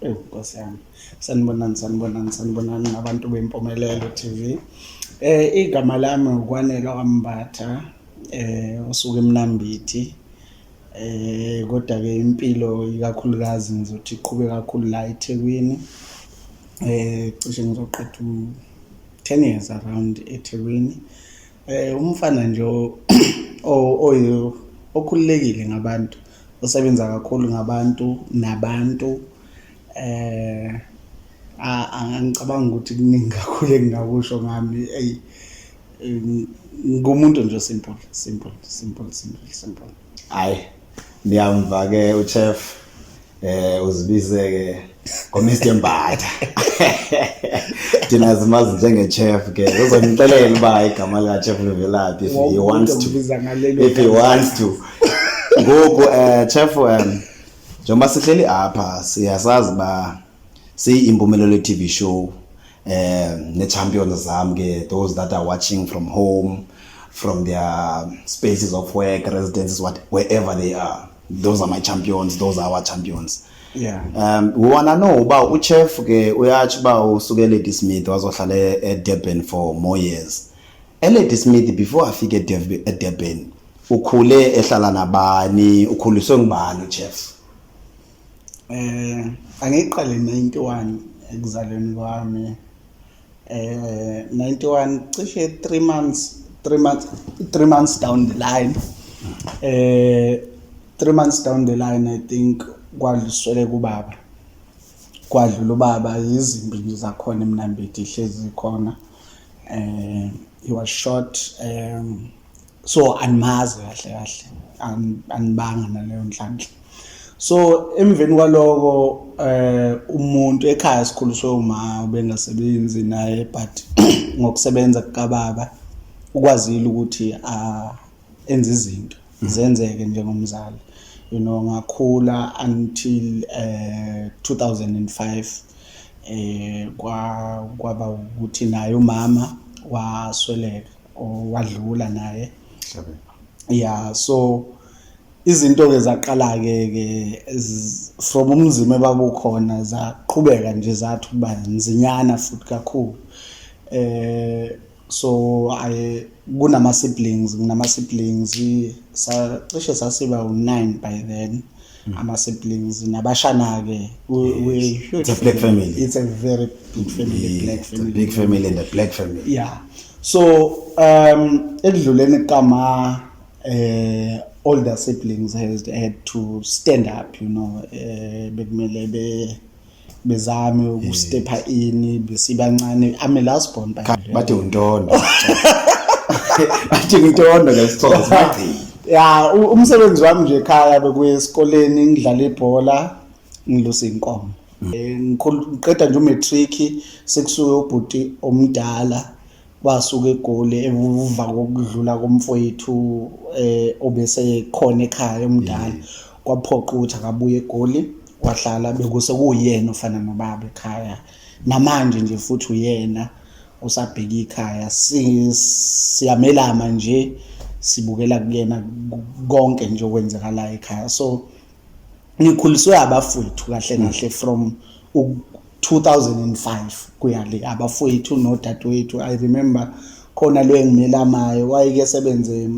Ewu Nkosi yami. Sanibonani sanibonani sanibonani nabantu bempumelelo TV. Eh igama lami ukwanelwa kambatha eh osuke emnambithi. Eh kodwa ke impilo ikakhulukazi ngizothi iqhube kakhulu la eThekwini. Eh cishe ngizoqeda 10 years around eThekwini. Eh umfana nje okhululekile ngabantu. Usebenza kakhulu ngabantu nabantu eh angicabanga ukuthi kuningi kakhulu engingakusho ngami eyi ngumuntu nje simple simple simple simple simple hayi niyamva ke uchef eh uzibize ke ngomr mbatha thina zimazi njenge-chef ke uzongixelela uba igama likachef livelaphi if he wants to if he wants to ngoku um chef um njengoba sihleli apha siyasazi uba siyi-impumelelo ye-tv show um ne-champions zam ke those that are watching from home from their spaces of work residences what, wherever they are those are my champions those are our champions yeah um we wanna know uba uchef ke uyatsho uba usuke elady smith wazohlala e-, edurban for more years elady smith before afike edurban ukhule ehlala nabani ukhuliswe ngubani uchef um angiqale 91 ekuzalweni kwami eh 91 cishe 3 months 3 months 3 months down the line eh 3 months down the line i think kwadluswele kubaba kwadlula ubaba izimbi nje zakhona emnambithi ihlezi khona eh he was shot um so andimazi kahle kahle anibanga naleyo nhlanhla so emveni kwaloko eh umuntu ekhaya sikhuliswe uma ubengasebenzi naye but ngokusebenza kukababa ukwazile ukuthi ah, enze izinto mm. zenzeke njengomzali you know ngakhula until eh 2005 eh kwa kwaba ukuthi naye umama wasweleka owadlula naye ya so izinto-ke zaqala-ke ke from umzima ebakukhona zaqhubeka nje zathi ukuba nzinyana futhi kakhulu eh so i kunama-siblings nginama-siblings sacishe sasiba u-nine by then mm. ama siblings nabashana ke it's a black family it's a very big family yeah, black family big family and a black family yeah so um ekudluleni kama eh older siblings has had to stand up you know eh bekumele be bezame ukustepha ini besibancane ame last born by bathi untondo bathi untondo ngesixhosa bathi ya umsebenzi wami nje ekhaya bekuye esikoleni ngidlala ibhola ngilusa inkomo mm. eh, ngiqeda nje umatric sekusuke ubhuti omdala kwasuka egoli emuva kokudlula komfowethu eh obese khona ekhaya omdala kwaphoqa ukuthi akabuye egoli wahlala bekuse kuyena ofana nobaba ekhaya namanje nje futhi uyena usabheka ikhaya siyamelama nje sibukela kuyena konke nje okwenzakalayo ekhaya so ngikhuliswe abafowethu kahle hmm. kahle from 2005 kuya le abafowethu nodadewethu i remember khona lo engimelamayo wayeke sebenze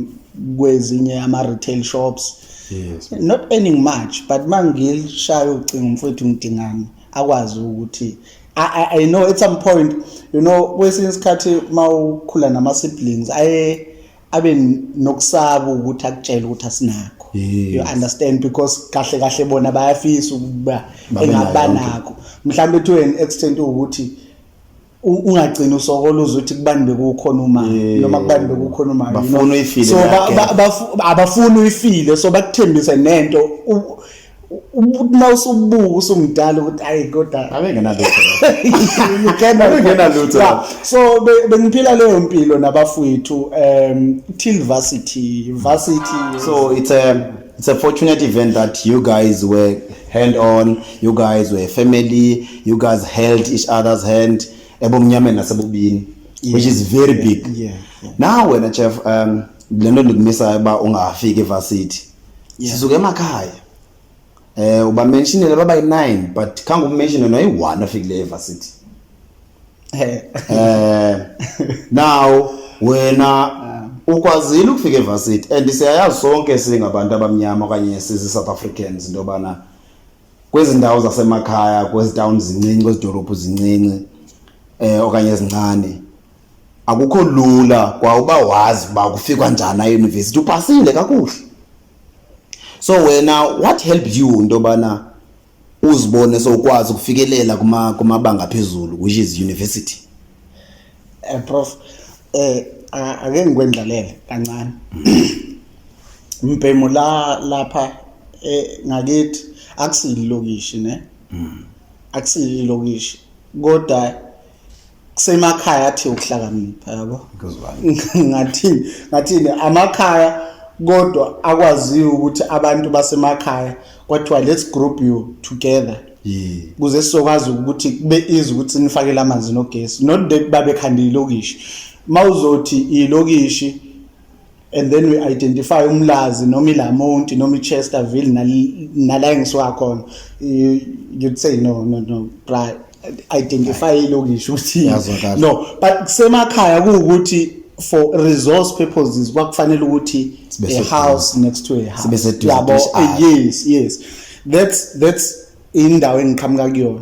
kwezinye ama-retail shops yes. not earning much but uma ngilishaya ucingo mfowethu ngidingani akwazi ukuthi I, I know at some point you know kwesinye isikhathi uma ukhula nama-siblings aye abe nokusaba ukuthi akutshele ukuthi asinakho yes. you understand because kahle kahle bona bayafisa ukuba engabanakho mhlawumbe to an extent ukuthi ungagcina usokola uze uthi kubani bekukhona uma noma kubani bekukhona uma bafuna uyifile so abafuna uyifile so bakuthembise nento umuntu na usubuka usumdala ukuthi ayi kodwa abengenalutho abengenalutho so bengiphila leyo mpilo nabafowethu um till varsity varsity so it's a um, it's a fortunate event that you guys were hand on you guys were family you guys held each other's hand ebumnyameni nasebubini yeah. which is very big yeah, yeah, yeah. now wena chef um lento ndikumisayo uba ungafiki evarsity sizuke emakhaya eh uba mentionele baba yi9 but khangu mention no yi1 afikile evarsity eh eh now wena ah. ukwazile ukufika evarsity and siyayazi sonke singabantu abamnyama okanye sizi South Africans into bana kwezindawo zasemakhaya kwezitown zincinci kwezidolophu zincinci eh okanye ezincane akukho lula kwa uba wazi uba kufikwa njani ayunivesithi upasile kakuhle so wena what help you into yobana uzibone sowukwazi ukufikelela kumabanga phezulu which is university um prof um ake ngikwendlalele kancane mbhemu la lapha eh ngakithi akusililokishi ne akusililokishi kodwa kusemakhaya athi ukuhlakanipha yabo ngathini ngathini amakhaya kodwa akwaziyo ukuthi abantu basemakhaya kwathiwa let's group you together kuze sizokwazi ukuthi kube izi ukuthi nifakele amanzi nogesi not that babekhandile ilokishi mawuzothi ilokishi and then we identify umlazi noma ilamonti noma ichesterville nala engisuka khona you'd say no no no bra identify ilokishi ukuthi no but kusemakhaya kuwukuthi for resource purposes kwakufanele ukuthi a house next to a house yabo yes yes that's that's indawo engiqhamuka kuyona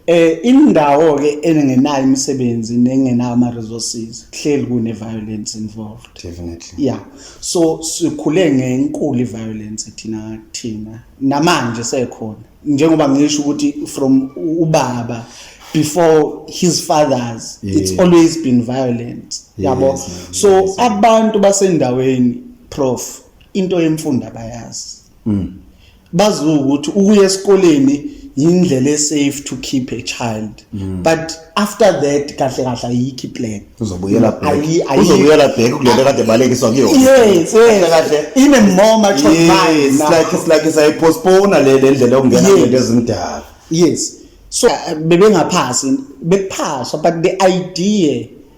Eh indawo ke engenayo imisebenzi nengenayo ama resources kuhleli kune violence involved. Definitely. Yeah. So sikhule ngenkulu violence thina thina namanje sekhona njengoba ngisho ukuthi from ubaba before his fathers yes. it's always been violent yabo yes, yes, so yes. abantu basendaweni prof into yemfunda bayazi mm. bazi ukuthi ukuya esikoleni yindlela esafe to keep a child mm. but after that kahle kahle ayikho iplan uzobuyela back uzobuyela back kulento kade balekiswa kuyona yes kahle kahle ine more mature yes like it's like say postpone le ndlela okungena into ezindala yes so bebengaphasi bekuphaswa but the idea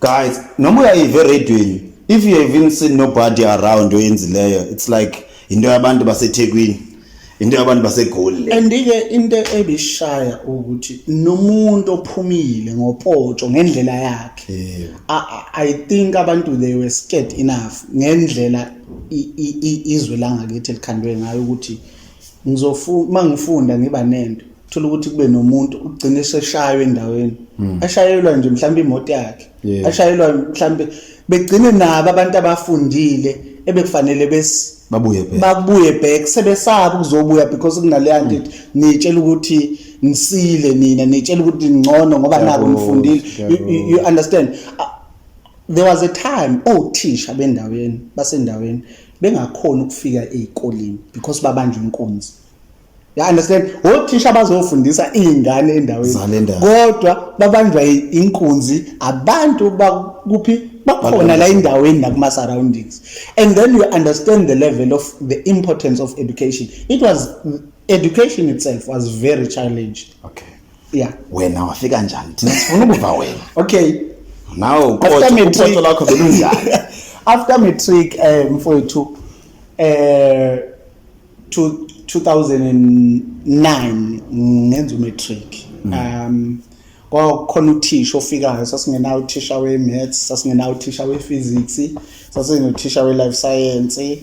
guys noma uyayiva eradweni if you have seen nobody around oyenzileyo it's like into yabantu basethekwini into yabantu basegoli le andike into ebishaya ukuthi nomuntu ophumile ngopoto ngendlela yakhe yeah. i think abantu they were scared enough ngendlela izwe langakithi elikhandwe ngayo ukuthi ngizofuna mangifunda ngiba nento thola ukuthi kube nomuntu ugcina eseshaywa endaweni hmm. ashayelwa nje mhlawumbe imoto yakhe ashayelwa mhlawumbe begcine nabo abantu abafundile ebekufanele bes babuye back babuye back sebesaba ukuzobuya because kunaleya hmm. nto nitshela ukuthi nisile nina nitshela ukuthi ngcono ngoba nako nifundile you understand there was a time othisha bendaweni basendaweni bengakhona ukufika ezikoleni because babanje inkunzi You understand? Othisha bazofundisa izingane endaweni. Kodwa babanjwa inkunzi abantu bakuphi bakhona la endaweni nakuma surroundings. And then you understand the level of the importance of education. It was education itself was very challenged. Okay. Yeah. Wena wafika njani? Thina sifuna ukuva wena. Okay. Now uqotho lakho belunjani? After matric eh mfowethu eh 2009 ngenza umatric mm. um kwakukhona uthisha ofikayo sasingenawo uthisha we-maths sasingenawo uthisha we-physics sasinothisha we-life science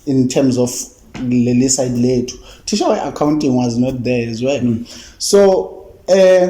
in terms of leli side lethu thisha we-accounting was not there as well mm. so um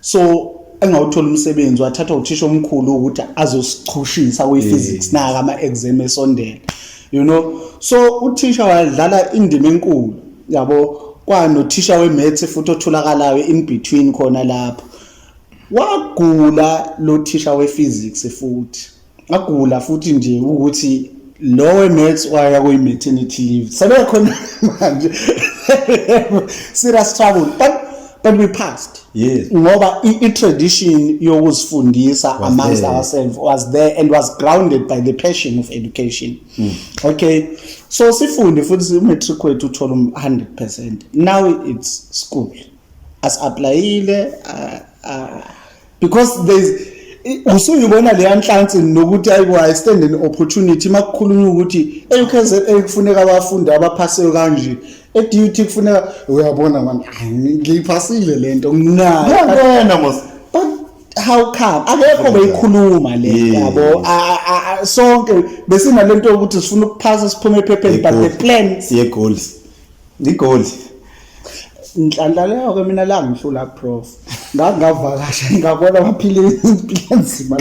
so engawuthola umsebenzi wathathwa uthisha omkhulu ukuthi azosichushisa kwi-physics naka ama-exam esondela you know so uthisha wadlala indima enkulu yabo kwanothisha we-maths futhi otholakalayo in between khona lapho wagula lo thisha we-physics futhi ngagula futhi nje ukuthi lowe max waya kuyi maternity leave sebekhona manje serious trouble but but we passed yes ngoba i tradition yokuzifundisa amongst ourselves was there and was grounded by the passion of education mm. okay so sifunde futhi u matric wethu uthola 100% now it's school as applyile uh, uh, because there's usuyibona leya nhlansi nokuthi ayibo i stand an opportunity makukhulunywa ukuthi eUKZN kufuneka abafundi abaphaseyo kanje eDUT kufuneka uyabona manje ngiyiphasile lento nginayo yabona mos but how come akekho beyikhuluma le yabo sonke besinalento yokuthi sifuna ukuphasa siphume ephepheni but the plans ye goals Ngigoli. Inhlanhla leyo ke mina la ngihlula prof. Ngangavakasha ngabona amaphilisi impilo enzima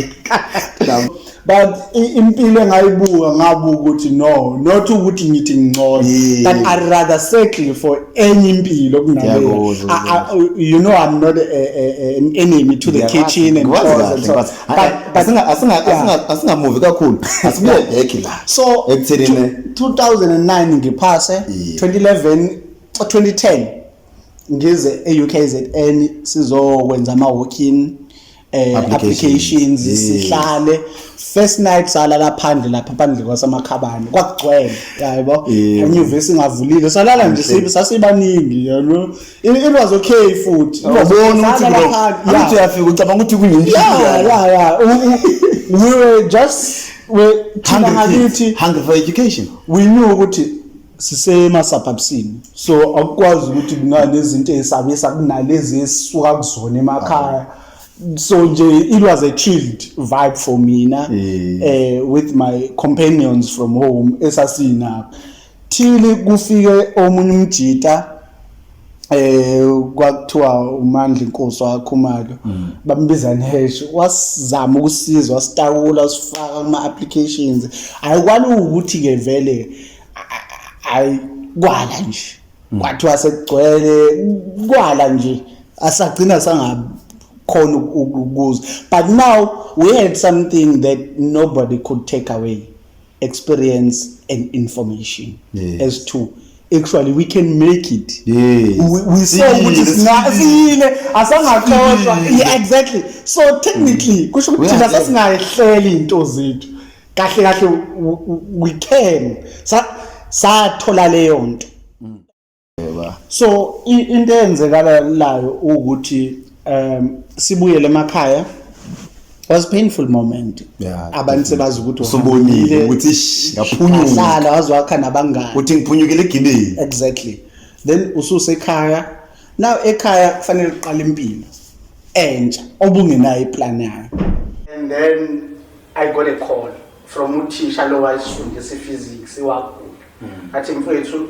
la. But i- impilo engayibuka ngabuka ukuthi no not ukuthi ngithi ngcono Yeah. but I rather settle for enye impilo kunaleyo. Ngiyakuzwa, I- I- u- You know I'm not a, a, a, an enemy to the kitchen and Ngikwazi chores kahle, and so. ngikwazi. But- Ayi, but- asinga- asinga- Yeah. asinga- asingamuvi kakhulu asibuyele back la So, ekuthenini 2009 ngiphase yeah. 2011 2010 ngize e-UKZN sizokwenza ama walk-in eh applications yeah. sihlale first night salala phandle lapha phandle kwasamakhabani kwakugcwele yabo yeah. inyuvesi ingavulile salala nje sasibaningi yabo It was okay futhi. Ubona ukuthi bro. Angithi uyafika ucabanga ukuthi kuyini. Yeah, yeah, yeah. We were just we thina ngakithi hungry for education. We knew ukuthi sisema suburbsini. So akukwazi ukuthi kungane izinto ezisabisa kunalezi esisuka kuzona emakhaya. So nje it was a chilled vibe for mina eh with my companions from home esasinapho. Thili kufike omunye umjita eh kwakuthiwa uMandla inkosi wakhumalo mm. bambiza nehesh wasizama ukusizwa sitakula sifaka kuma applications ayikwani ukuthi ke vele ayi kwala nje mm. kwathiwa sekugcwele kwala nje asagcina sanga khona ukukuza but now we had something that nobody could take away experience and information yes. as to actually we can make it yes. we, we saw ukuthi singile asangaxoshwa yeah, exactly so technically mm. kusho ukuthi thina sasingahleli into zethu kahle kahle we can sathola leyo nto so into eyenzekalayo ukuthi um sibuyele emakhaya was painful moment yeah, abantu sebazi ukuthi usubonile ukuthi ngaphunyuka sala wazwakha nabangani uthi ngiphunyukile egibeni exactly then ususe ekhaya now ekhaya kufanele uqale impilo entsha obungenayo iplan yayo and then i got a call from uthisha lo wayisifundisa iphysics iwagula hmm. athi mfowethu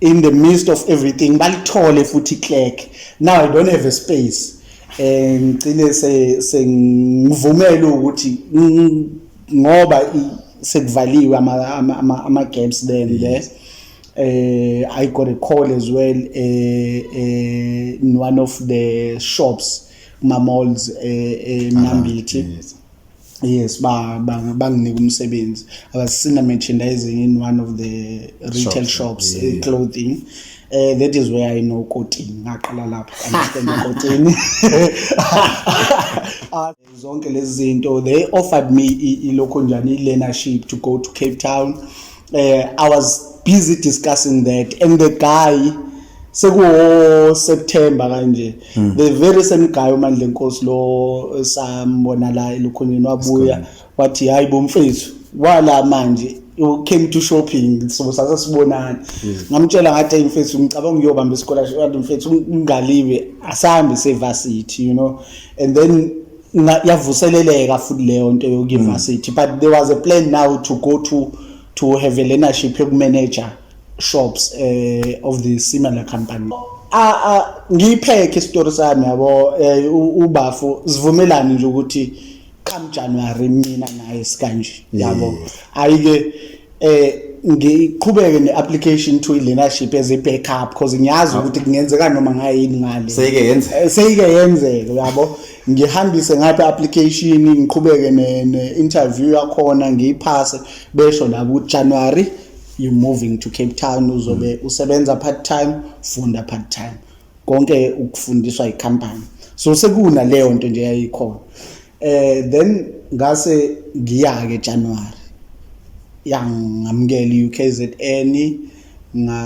in the midst of everything balithole futhi clerk now i don't have a space eh ngicine se sengivumela ukuthi ngoba sekuvaliwe ama ama ama gaps then yes eh i got a call as well eh, eh in one of the shops ma malls eh, eh ah, Nambithi yes. yes banginika umsebenzi i was senior merchandising in one of the retail shops, shops yeah. Eh, clothing yeah. Uh, that is where I know Kotini. Ngaqala lapho understand Kotini. Ah, zonke lezi zinto they offered me ilokho njani i learnership to go to Cape Town eh i was busy discussing that and the guy sekuwo September kanje mm. the very same guy uMandla Nkosi lo esambona la elukhoneni wabuya wathi hayi bomfethu wala manje you came to shopping so sase sibonana hmm. ngamtshela ngathi hey mfethu ngicabanga uyobamba isikole wathi mfethu ungaliwe asambe sevasithi you know and then yavuseleleka futhi leyo nto yokuyivarsity mm. but there was a plan now to go to to have a learnership yokumanager shops uh, of the similar company ngiyiphekhe isitori sami yabo eh, ubafu sivumelane nje ukuthi come January mina naye sikanje yabo ayike eh ngiqhubeke neapplication to leadership as a backup because ngiyazi ukuthi kungenzeka noma ngayini ngale seyike yenzeka eh, seyike yenzeka yabo ngihambise ngapha application ngiqhubeke ne, ne interview yakhona ngiyiphase besho la ku January you moving to Cape Town uzobe mm. usebenza part time funda part time konke ukufundiswa icompany so sekuna leyo nto nje yayikhona eh then ngase ngiyake January yangamukela iUKZN nga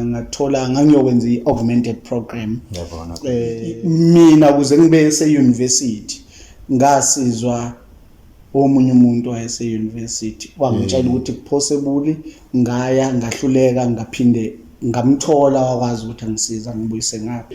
ngathola ngangiyokwenza iaugmented program yabona eh mina kuze ngibe seuniversity ngasizwa omunye umuntu wayese university wangitshela mm. ukuthi kuphosebuli ngaya ngahluleka ngaphinde ngamthola wakwazi ukuthi angisiza ngibuyise ngapha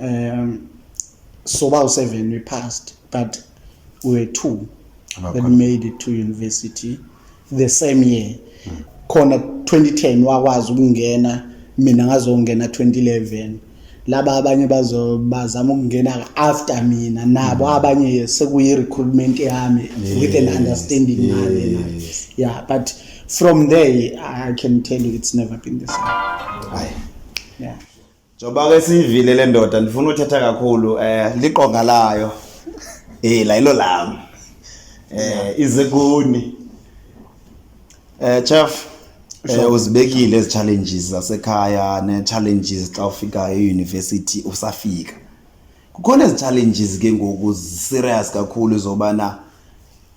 um so ba u-seven we passed but we were two that made it to university the same year mm. khona 2010 wakwazi ukungena mina ngazongena 2011 laba abanye bazo bazama ukungena after mina nabo mm. abanye sekuyi recruitment yami yes. with an understanding yes. nami yes. yeah but from there i can tell you it's never been the same Aye. yeah Njoba ke siyivile le ndoda ndifuna uthetha kakhulu eh liqonga layo. Eh la ilo lami. Eh izekuni. Eh chef eh uzibekile ezi challenges zasekhaya ne challenges xa ufika e university usafika. Kukhona ezi challenges ke ngoku serious kakhulu zobana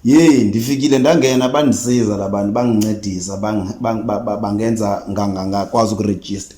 Yey ndifikile ndangena bandisiza labantu bangincedisa bangenza ngangakwazi ukuregister.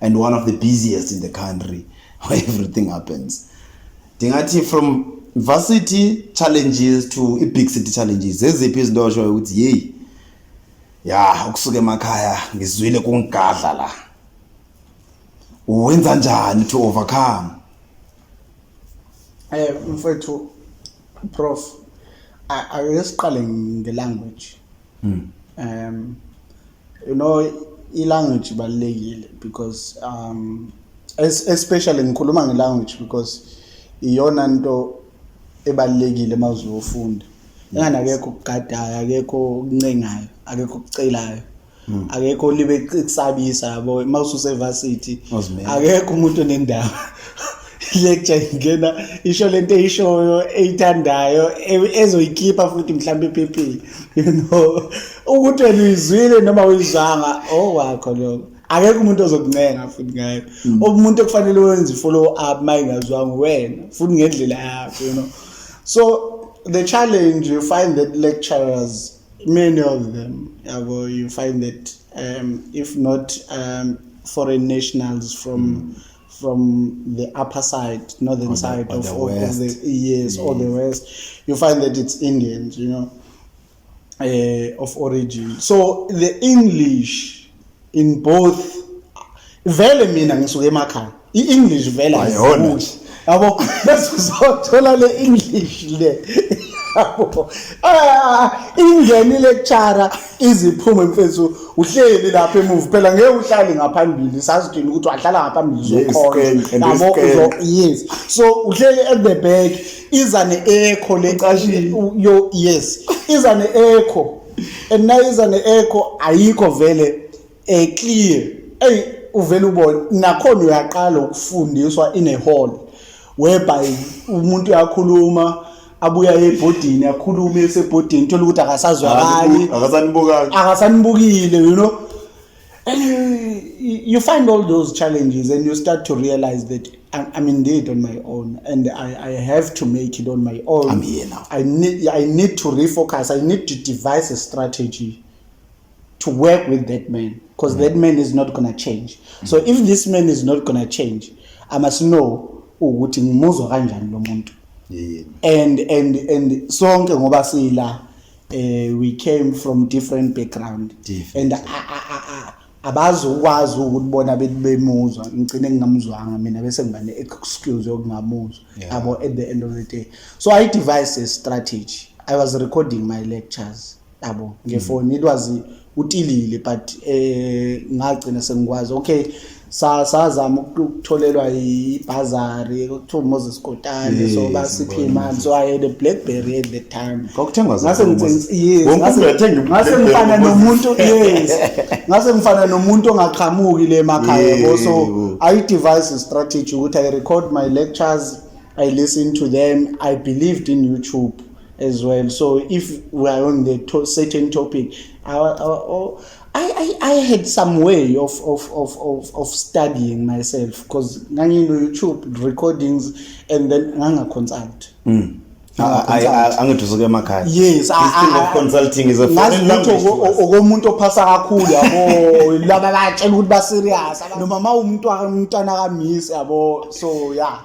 and one of the busiest in the country where everything happens ndingathi from varsity challenges to i-big city challenges zeziphi izinto oshoyo ukuthi yeyi ya ukusuka emakhaya ngizwile kungigadla la wenza njani to overcome eh mfethu prof ake siqale ngelanguage hmm. um you know ilanguage ibalulekile because um especially ngikhuluma ngelanguage because iyona nto ebalulekile uma uzofunda engani akekho okugadayo akekho okuncengayo akekho okucelayo hmm. akekho olibe kusabisa yabo uma ususevarsity akekho umuntu onendawo lecture ingena isho lento eyishoyo eyithandayo e- ezoyikhipha futhi mhlawumbe ephephile you know ukuthi wena uyizwile noma uyizwanga oh wakho lokho akekho umuntu ozokuncenga futhi ngayo mm. umuntu okufanele wenze follow up mayingazwanga wena futhi ngendlela yakho you know so the challenge you find that lecturers many of them yabo you find that um, if not um, foreign nationals from mm. from the upper side, northern the, side of, the of, the yes, yes, or the west, you find that it's Indians, you know, uh, of origin. So the English in both vele mina ngisuke emakhaya i-english vele ayiholi yabo bese uzothola le english le yabo ah, ingeni lecture iziphume mfethu uhleli lapha emuva phela ngeke uhlale ngaphambili sasidini ukuthi wahlala ngaphambili zokhona yes so uhleli at the back iza ne echo le yo yes iza ne echo and nayiza ne echo ayikho vele eh clear ey uvela ubona nakhona uyaqala ukufundiswa in a hall whereby umuntu uyakhuluma abuya ebhodini akhulume esebhodini thola ukuthi akasazwakali akasanibukanga akasanibukile you know and you, you find all those challenges and you start to realize that I'm, I'm indeed on my own and I, I have to make it on my own I'm here now I need, I need to refocus I need to devise a strategy to work with that man because that man is not gonna change so if this man is not gonna change i must know ukuthi ngimuzwa kanjani lo muntu Yeah. and and and sonke ngoba sila eh we came from different background Different. and a- a- a- a- abazi ukwazi ukuthi bona bethi bemuzwa ngicine ngingamuzwanga mina bese ngiba ne excuse yokungamuzwa Yeah. yabo at the end of the day so i devised a strategy i was recording my lectures yabo mm. ngefoni it was utilile but eh ngagcina sengikwazi okay sazama ukutholelwa ibhazari kuthiwa Moses Kotane so basiphe imali so I had a blackberry at the time kwakuthengwa ngase ngase ngifana nomuntu yes ngase ngifana nomuntu ongaqhamuki le makhaya yabo so i device strategy ukuthi i record my lectures i listen to them i believed in youtube as well so if we are on the to certain topic I, I, I, I had some way of, of, of, of, of studying myself because ngangino youtube recordings and then ngangaconsult mm. angithusuke emakhaya yes consulting is a foreign language okomuntu ophasa kakhulu yabo laba batshela ukuthi ba serious noma mawumuntu umntana kamisi yabo so yeah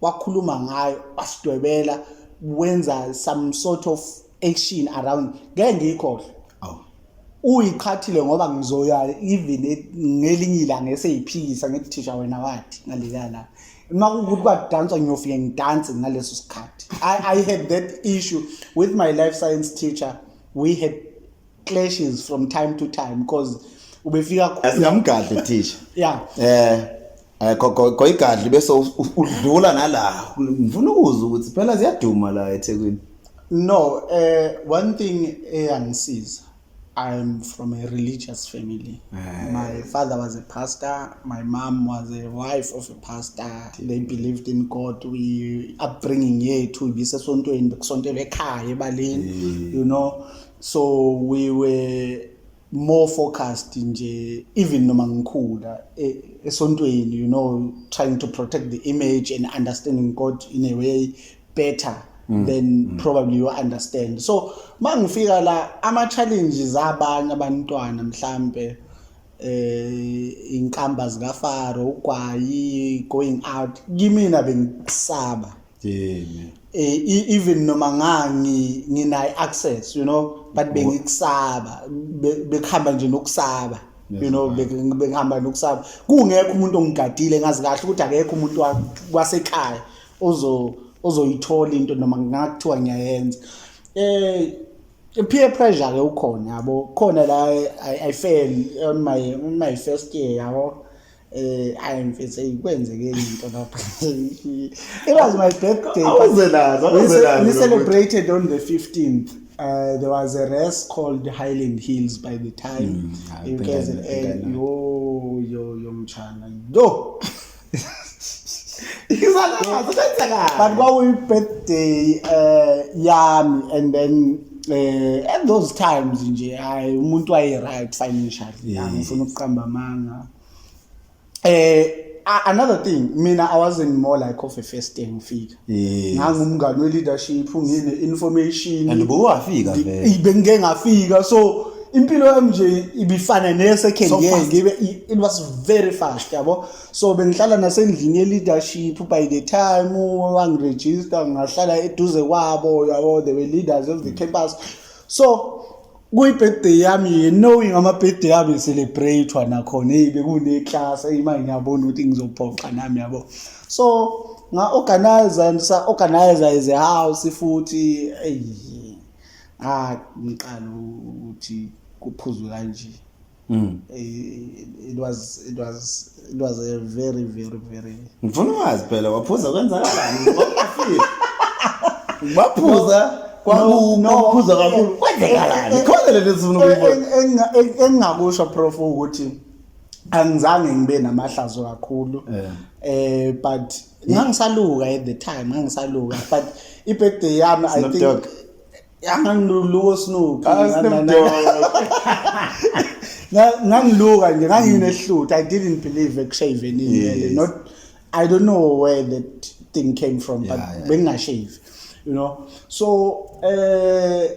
wakhuluma ngayo wasidwebela wenza some sort of action around ngeke ngiyikhohle awu uyiqhathile ngoba ngizoya even e- ngelinye ilanga eseyiphikisa ngithi thisha wena wathi ngaleya la uma kuwukuthi kwadanswa ngiyofike ngidanse ngaleso sikhathi I, i had that issue with my life science teacher we had clashes from time to time because ubefika khona singamgadli thisha yeah eh eh goyigadli bese udlula nala ngifuna ukuzwa ukuthi phela ziyaduma la eThekwini no eh one thing eyangisiza I'm from a religious family. Aye. My father was a pastor. My mom was a wife of a pastor. They believed in God. We upbringing yethu ibisesontweni bekusontelwe ekhaya ebaleni. You know, so we were more focused nje even noma ngikhula e, esontweni you know trying to protect the image and understanding God in a way better mm. then mm. probably you understand so mangifika la ama challenges abanye abantwana mhlambe eh inkamba zika Faro ugwayi going out kimina bengisaba Yini. Eh e- even noma ngangi ngina access you know but bengikusaba Be- bekuhamba nje nokusaba you Yes, know right. bek- bekuhamba nokusaba kungekho umuntu ongigadile ngazi kahle ukuthi akekho umuntu wa- wasekhaya ozo ozoyithola into noma ngakuthiwa ngiyayenza eh peer pressure ke ukhona yabo khona la I, I fail on my on my first year yabo eh ayi mfethu ayikwenzeke into lapha it was my birthday awuzelaza awuzelaza we celebrated on the 15th Uh, there was a race called Highland Hills by the time mm, in KZN. Yo, yo, yo, mchana. Yo! but kwakuyibirthday um uh, yami and then uh, at those times nje hayi umuntu waye-right financially angifuna ukuqamba amanga eh another thing mina i wasn't more like of a first day ngifika ngangumngani we-leadership ngine information and bowafika vele bengike ngafika so impilo yami nje ibifana ne-second year ngibe it was very fast yabo so bengihlala nasendlini ye-leadership by the time wangiregister ngahlala eduze kwabo yabo they were leaders of the campus so kuyi-birthday yami ye knowing ama-birthday yami celebrate-wa nakhona eyi bekuneklasi eyi manje ngiyabona ukuthi ngizophoxa nami yabo so nga-organize and sa-organize as a house futhi eyi ngangiqala ukuthi kuphuzwe kanje Mm. It was it was it was a very very very Ngifuna wazi phela waphuza kwenzakalani ngokufika. Baphuza kwakuphuza kakhulu kwenzekalani eh, eh, khona lento sifuna ukuyibona eh, engingakusho prof ukuthi angizange ngibe namahlazo kakhulu eh but ngangisaluka at the time ngangisaluka but i birthday yami i think yangangiluko snoop ngangiluka nje nganginehlutha i didn't believe ekushaveni inwele not i don't know where that thing came from but yeah, yeah. bengingashave you know so eh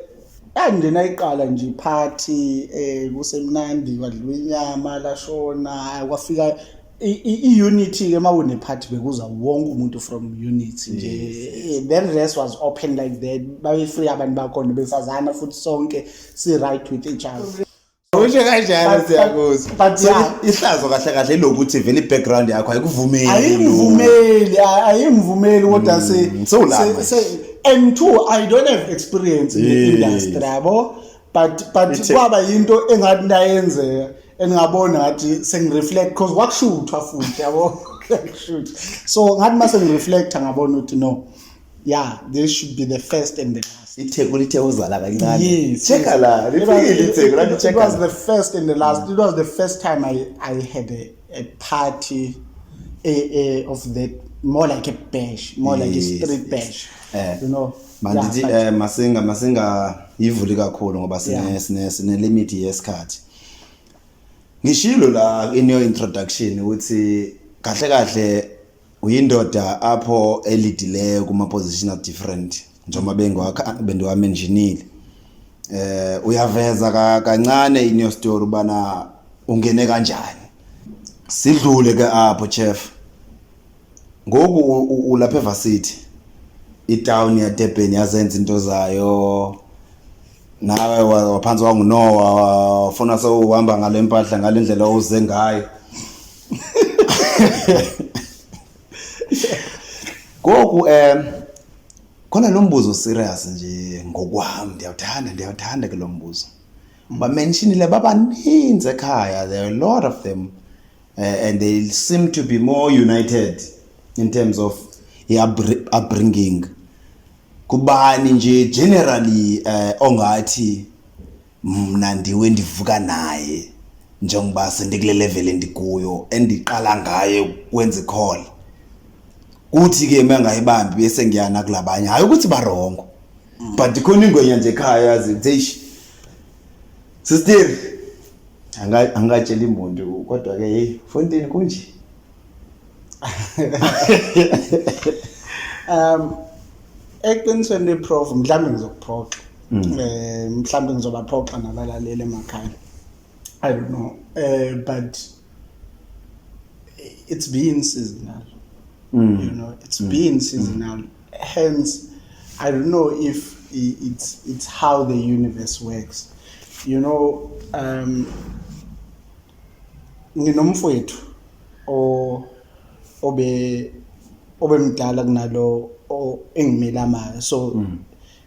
yangena iqala nje party eh kusemnandi kwadliwa inyama lashona kwafika i-unity ke uma unephathi bekuza wonke umuntu from unity nje eh, then rest was open like that babe-free abantu bakhona besazana futhi sonke si-right with each other usho kanjalo siyakuzwa but ihlazo kahle kahle ilokuthi vele i-background yakho ayikuvumeli ayingivumeli ayingivumeli kodwa mm, se and two i don't have experience in the industry yabo but but Ithe- kwaba yinto engathi ndayenzeka engingabona ngathi sengireflect because kwakushuthwa futhi yabo Kwakushuthwa. so ngathi uma sengireflecta ngabona ukuthi no yeah this should be the first and the last itheku lithe uzala kancane Yes, cheka yes. la It was- lifikile it- itheku it- lathi it cheka was la the first and the last it was the first time i i had a, a party a, a, of that more like a bash more like a Yes, street yes. bash Eh. you know mandithi um eh, masinga masingayivuli kakhulu ngoba sine-limit yesikhathi ngishilo la in your introduction ukuthi kahle kahle uyindoda apho elidileyo kuma position of different njengoba bengiwakha bendiwamenjinile eh uyaveza kancane in your story bana ungene kanjani sidlule ke apho chef Ngoku ulapha eVarsity. Itown yaDurban yazenza into zayo. Nawe waphansi wanguNoah wafuna sewuhamba ngale mpahla ngale ndlela owuze ngayo. Ngoku um khona lo mbuzo serious nje ngokwami ndiyawuthanda ndiyawuthanda ke lo mbuzo. Bamentionile babaninzi ekhaya there are a lot of them. uh, and they seem to be more united in terms of upbringing kubani nje generally eh ongathi mna ndiwe ndivuka naye njengoba sendikule level endikuyo endiqala ngaye ukwenza icall kuthi ke mangayibambi bese ngiyana kulabanye hayi ukuthi barongo but khona ingwenya nje ekhaya yazi eish Sister anga angatshela imuntu kodwa ke hey Fontaine kunje. Um eqinisweni leprof mhlawumbe ngizokuphoxa. Mm. Eh mhlawumbe ngizobaphoxa nabalaleli emakhaya. I don't know. Eh but it's being seasonal. Mm. You know, it's mm. being seasonal. Mm. Hence, I don't know if it's it's how the universe works. You know, um, nginomfowethu o obe obemdala kunalo engimela mayo so mm.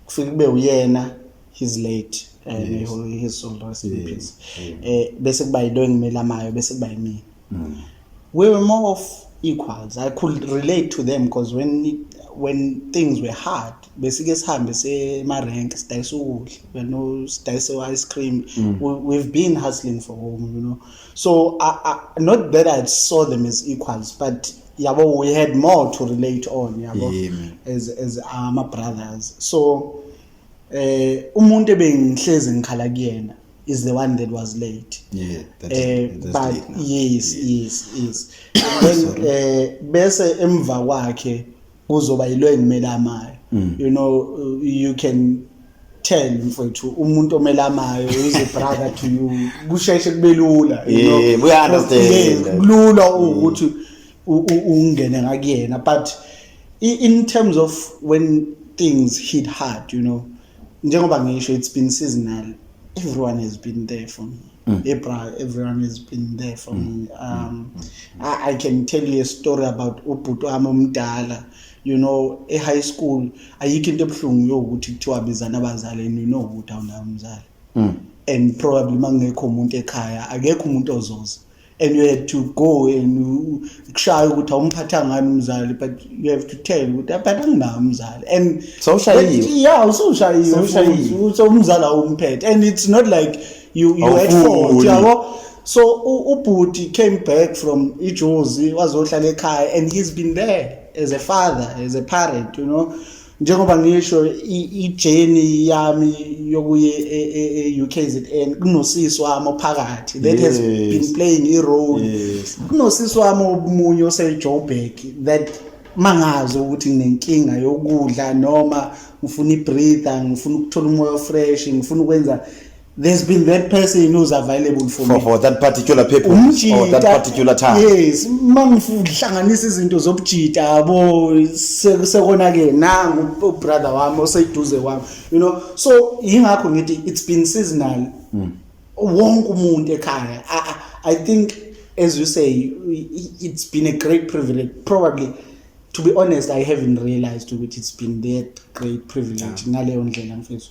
kufike kube uyena he's late and eh, yes. he holds his soul rest in peace eh bese kuba yilo engimela mayo bese kuba yimina mm. we were more of equals i could relate to them because when when things were hard besike sihambe semarenke sidayisa ukudla you know sidayisa ice cream mm. we, we've been hustling for home you know so I, I, not that i saw them as equals but yabo we had more to relate on yabo yeah, as as ama brothers so eh umuntu ebengihlezi ngikhala kuyena is the one that was late yeah that eh, is, uh, but late yes yes yes then eh bese emva kwakhe kuzoba yilo engimelamayo mm. you know you can tell mfowethu umuntu omelamayo is a brother to you kusheshe kube lula you know yeah, we understand kulula ukuthi mm. ungene ngakuyena but in terms of when things hit hard you know njengoba ngisho it's been seasonal everyone has been there for me mm. ebra everyone has been there for mm. me um mm. I, i can tell you a story about ubhuti wami omdala you know e-high school ayikho into ebuhlungu yokuthi kuthiwa bizana abazali and you know ukuthi awunayo umzali mm. and probably uma kungekho umuntu ekhaya akekho umuntu ozoza mm. and you had to go and kushaya ukuthi awumphatha ngani umzali but you have to tell ukuthi aphatha nginawo umzali and sawushayiwe yeah usawushayiwe so umzali awumphethe and it's not like you you had fault yabo so ubhuti came back from ijozi wazohlala ekhaya and he's been there as a father as a parent you know njengoba ngisho ijeni yami yokuye e-UKZN e, e, kunosisi wami ophakathi that has been playing i-role kunosisi wami omunye osejoburg that mangazi ukuthi nginenkinga yokudla noma ngifuna i-breather ngifuna ukuthola umoya ofresh ngifuna ukwenza there's been that person who's available for, for me for that particular people umjita, or that particular time yes mangihlanganisa izinto zobujita yabo sekona ke nangu brother wami oseduze wami you know so ingakho ngithi it's been seasonal mm. wonke umuntu ekhaya I, i think as you say it's been a great privilege probably to be honest i haven't realized ukuthi it's been that great privilege ngaleyo ndlela mfethu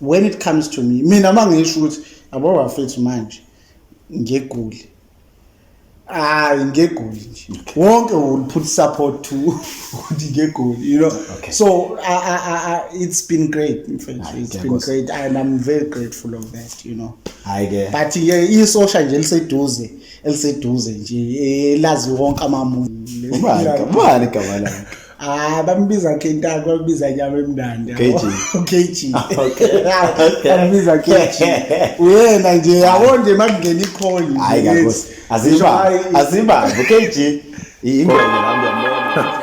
when it comes to me mina uma ngisho ukuthi yabo bafethu manje ngeguli hayi ngegoli nje wonke will put support to ukuthi ngegoli you know okay. so I, I, I, it's been great mfethu it's been great and i'm very grateful of that you know hayi ke but yeah, isosha nje eliseduze eliseduze nje elazi wonke amamuntu ubani ubani igama lakhe Ah, bambiza Kentaka, bambiza nyama emnandi. KG. KG. Okay. Bambiza KG. Uyena nje yabo nje makungena ikholi. Hayi kakusi. Aziba. Aziba KG. Ingwenya nami yambona.